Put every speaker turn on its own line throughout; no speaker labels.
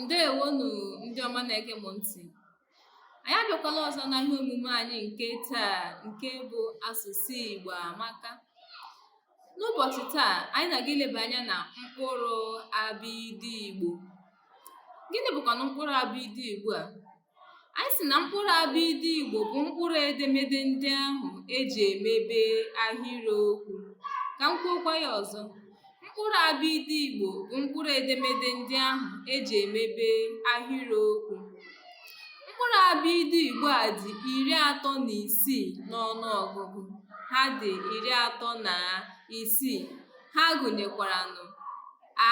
ndeewonụ ndị ọma na-ege m ntì anyị abịakwala ọzọ na ihe omume anyị nke taa nke bụ asụsụ Igbo amaka n'ụbọchị taa anyị na-aga ileba anya na mkpụrụ abịịdịị Igbo gịnị bụkwanụ mkpụrụ abịịdịị Igbo a Anyị sị na mkpụrụ abịịdị Igbo bụ mkpụrụ edemede ndị ahụ e ji emebe ahịrịokwu. Ka m kwuokwa ya ọzọ. Mkpụrụ abịịdị Igbo bụ mkpụrụ edemede ndị ahụ e ji emebe ahịrịokwu. Mkpụrụ abịịdị Igbo a dị iri atọ na isii n'ọnụọgụgụ. Ha dị iri atọ na isii. Ha gụnyekwaranụ a,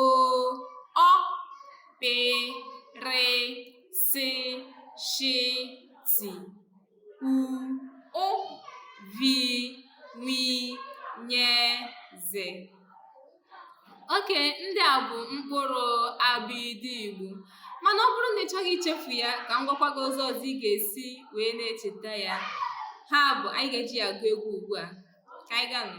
o ọ pe re se she ti u ụ vi wi nye ze okay ndị a bụ mkpụrụ abịịdị Igbo mana ọ bụrụ na ị chọghị ichefu ya ka m gwakwa gị ụzọ ọzọ ị ga-esi wee na-echeta ya ha bụ anyị ga-eji ya agụ egwu ugbu a ka anyị gaanụ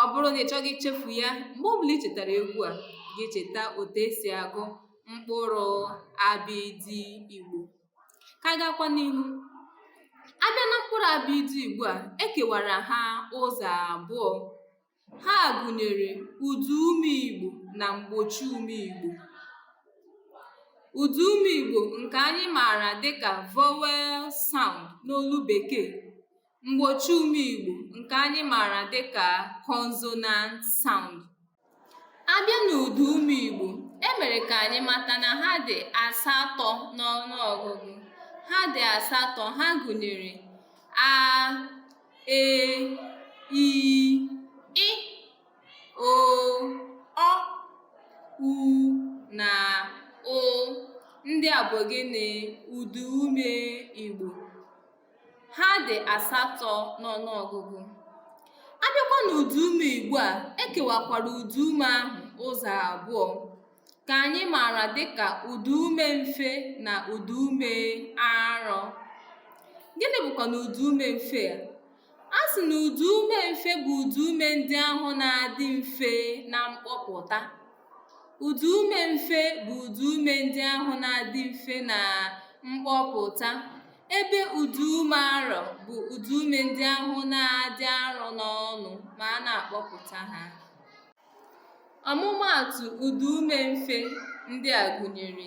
Ọ bụrụ na ị chọghị ichefu ya, mgbe ọ bụla i chetara egwu a, gị echeta otu e si agụ mkpụrụ abịịdị Igbo. Ka anyị gaakwa n'ihu. A bịa na mkpụrụ abịịdị Igbo a, e kewara ha ụzọ abụọ. Ha gụnyere ụdaume Igbo na mgbochiume Igbo. Ụdaume Igbo nke anyị maara dịka vowel sound n'olu Bekee Mgbochiume Igbo nke anyị maara dịka consonant sound. A bịa n'ụdaume Igbo, e mere ka anyị mata na ha dị asatọ n'ọnụọgụgụ. Ha dị asatọ, ha gụnyere a, e, i, ị, o, ọ, u na ụ. Ndị a bụ gịnị? Ụdaume Igbo. ha dị asatọ n'ọnụọgụgụ a bịakwa n'ụdaume Igbo a e kewakwara ụdaume ahụ ụzọ abụọ ka anyị maara dịka ụdaume mfe na ụdaume arọ gịnị bụkwanụ ụdaume mfe a a sị na ụdaume mfe bụ ụdaume ndị ahụ na-adị mfe na mkpọpụta Ụdaume mfe bụ ụdaume ndị ahụ na-adị mfe na mkpọpụta ebe ụdaume arọ bụ ụdaume ndị ahụ na-adị arọ n'ọnụ ma a na-akpọpụta ha. Ọmụmaatụ ụdaume mfe ndị a gụnyere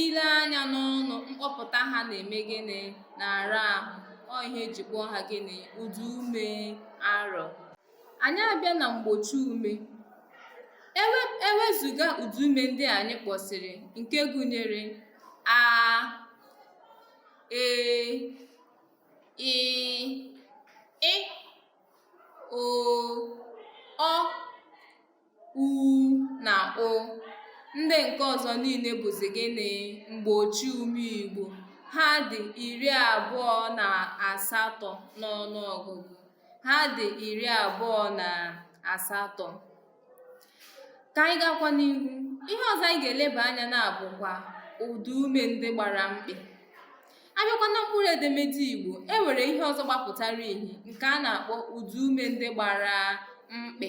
ile anya n'ọnụ mkpọpụta ha na-eme gịnị na-ara ahụ ọ ihe eji kpọọ ha gịnị ụda ume arọ anyị abịa na mgbochi ume ewezuga ụda ume ndị anyị kpọsịrị nke gụnyere a e i ị o ọ u na ụ ndị nke ọzọ niile bụzi gịnị mgbochi ume igbo ha dị iri abụọ na asatọ n'ọnụ ọgụgụ ha dị iri abụọ na asatọ ka anyị gakwa n'ihu ihe ọzọ anyị ga-eleba anya na ya bụkwa ụda ume ndị gbara mkpị abịakwa na mkpụrụ edemede igbo e nwere ihe ọzọ gbapụtara ihe nke a na-akpọ ụda ume ndị gbara mkpị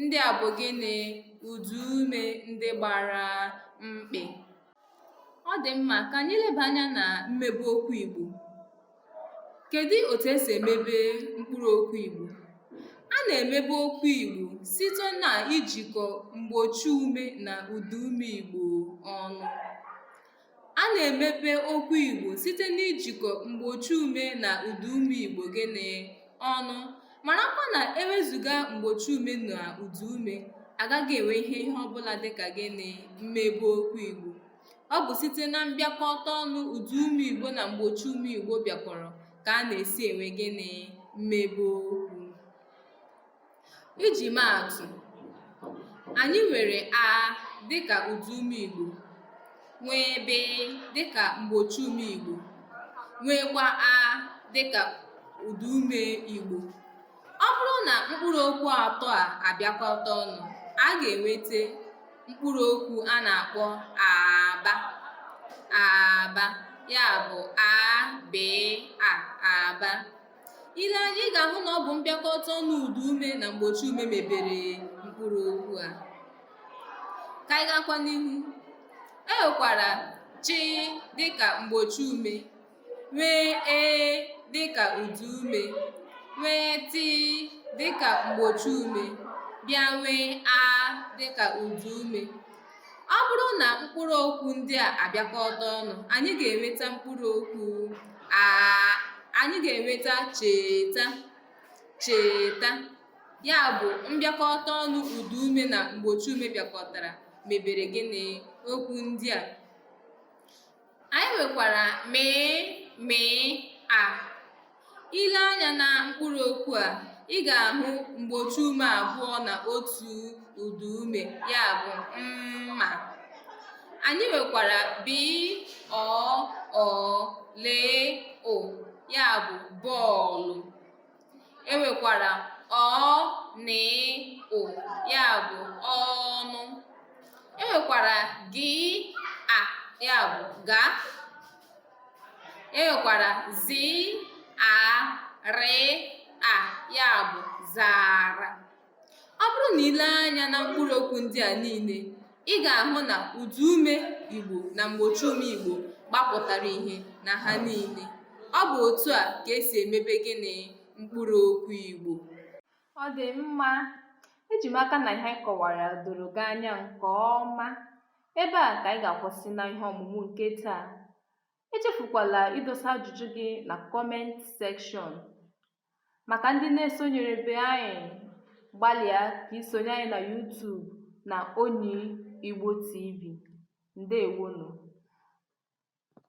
Ndị a bụ gịnị? Ụdaume ndị gbara mkpị. Ọ dị mma ka anyị leba anya na mmebe okwu Igbo. Kedu otu esi emebe mkpụrụ okwu Igbo? A na-emebe okwu Igbo site na ijikọ mgbochi ume na ụdaume Igbo ọnụ. A na-emebe okwu Igbo site n'ijikọ mgbochiume na ụdaume Igbo gịnị? ọnụ. Marakwa na e wezuga mgbochiume na ụdaume, a gaghị enwe ihe ihe ọbụla dịka gịnị? mmebe okwu Igbo. Ọ bụ site na mbịakọta ọnụ ụdaume Igbo na mgbochiume Igbo bịakọrọ ka a na-esi enwe gịnị? mmebe okwu. Iji maa atụ, anyị nwere a dịka ụda ume Igbo, nwee be dịka mgbochi ume Igbo, nweekwa a dịka ụda ume Igbo. Ọ bụrụ na mkpụrụ okwu atọ a abịakọta ọnụ, a ga-enweta mkpụrụ okwu a na-akpọ aba aba ya bụ a bee a aba. ile anya ị ga-ahụ na ọ bụ mbịakọta ọnụ ụda ume na mgbochi ume mebere mkpụrụ okwu a ka anyị gakwa n'ihu e nwekwara chi dịka mgbochi ume nwee ee dịka ụda ume nwee ti dịka mgbochi ume bịa nwee a dịka ụda ume Ọ bụrụ na mkpụrụ okwu ndị a abịakọta ọnụ, anyị ga-enweta mkpụrụ okwu a anyị ga-enweta cheta cheta ya bụ mbịakọta ọnụ ụda ume na mgbochi ume bịakọtara mebere gịnị okwu ndị a anyị nwekwara mị mị a i lee anya na mkpụrụ okwu a ị ga-ahụ mgbochi ume abụọ na otu ụda ume ya bụ mma anyị nwekwara bị ọ ọ lị ụ ya bụ bọọlụ enwekwara ọ nị ụ ya bụ ọnụ enwekwara gị a ya bụ ga enwekwara zị a rị a ya bụ zara Ọ bụrụ na i lee anya na mkpụrụ okwu ndị a niile, ị ga-ahụ na ụda ume Igbo na mgbochi ume Igbo gbapụtara ihe na ha niile. Ọ bụ otu a ka esi emebe gịnị mkpụrụ okwu Igbo. Ọ dị mma. Eji m aka na ihe anyị kọwara doro gị anya nke ọma. Ebe a ka anyị ga-akwụsị na ihe ọmụmụ nke taa. Echefukwala idosa ajụjụ gị na kọment sekshọn. Maka ndị na-esonyerebe anyị, gbalịa ka i sonye anyị na YouTube na Onyi Igbo TV. Ndewonu!